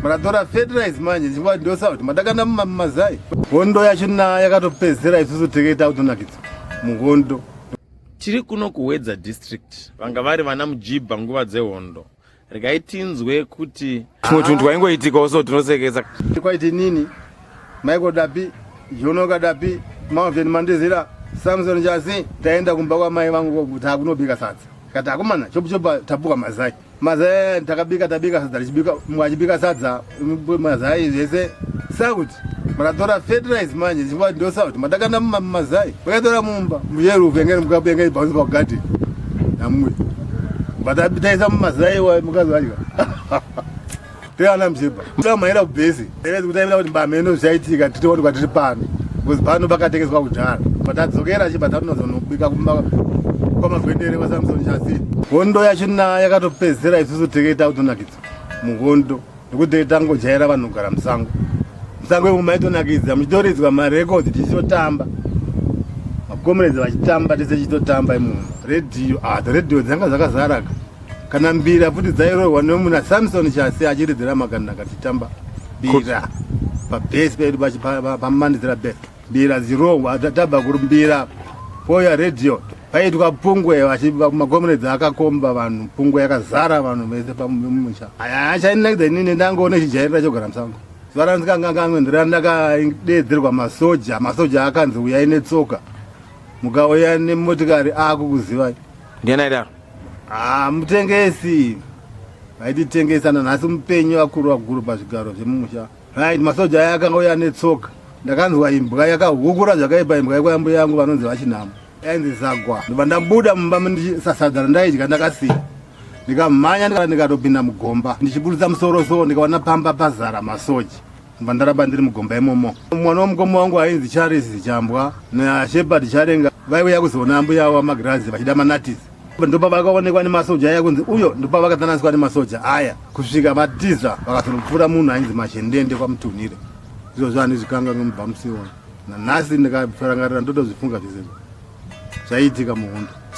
makatora fertilize manje ndichikuva ndosa kuti madakanda mumazai hondo yacho na yakatopedzera isusu teketa kutonakidza muhondo tiri kuno kuwedza district vanga vari vana mujibha nguva dzehondo regai tinzwe kuti tumwe tunhu twaingoitikawo so tinosekesa kwaiti nini maiko dapi jono kadapi maoveni mandizira samson jasi taenda kumba kwamai vangu kuti akunobika sadza kati akomana chopuchopa tapuka mazai Mazai takabika tabika sadza richibika mwa achibika sadza mazai zvese sakuti makatora fertilize manje chingwa ndo sakuti matakanda mazai makatora mumba muyero vengene mukapenge ibhaunzi pa garden namwe but abitaisa mumazai wa mukazalika Teana mjeba. Mda maira kubhezi. Ere kutaimira kuti mbameno zvaitika tiri wani kwatiri pano. Because pano pakatekeswa kudhara. Patadzokera chipa tatinozonobika kumba kwamagwendere kwa Samson Chasi. Hondo yacho na yakatopedzera isusu teketa kutonakidza. Muhondo. Nekuti tangojaira vanhu kugara musango. Musango yemu maitonakidza muchitoridzwa ma records tichitotamba. Makomerezi vachitamba tese chitotamba imunhu. Radio, ah, radio dzanga dzakazaraka. kana mbira futi dzairohwa nemunhu asamson chasi achiridzira makanda akati tamba bira pabhesi pedu pamanidzira bhesi mbira dzirohwa taba kuri mbira poya radio paitwa pungwe makomuredzi akakomba vanhu pungwe yakazara vanhu vese pamusha achainakidza inini ndangoona chijairira chogara musango zuva randikanganganwenderana ndakadeedzerwa masoja masoja akanzi uyai netsoka mukauya nemotikari akukuzivai ndiani aidaro ah, mutengesi vaititengesa nanhasi mupenyu vakuru vakuru pazvigaro zvemumusha right masoja aya akanga uya netsoka ndakanzwa imbwa yakahukura zvakaipa imbwa yekwa yambuya yangu vanonzi vachinhamo yainzi zagwa ndobva ndabuda mumba ndichisasadza randaidya ndakasiya ndikamhanya ndikatopinda mugomba ndichiburitsa musoro so ndikaona pamba pazara masoja ndobva ndaramba ndiri mugomba imomo mwana wamukoma wangu ainzi charles chambwa nashepard charenga vaiuya kuzoona ambuya avo vamagirazi vachida manatisi ndopa vakaonekwa nemasoja aya kunzi uyo ndopa vakatananiswa nemasoja aya kusvika vatiza vakazonopfuura munhu ainzi mashendende kwamutunhire izvozvo handizvikanga nomubva musiona nanhasi ndikazvirangarira ndotozvifunga zvese zvaiitika muhondo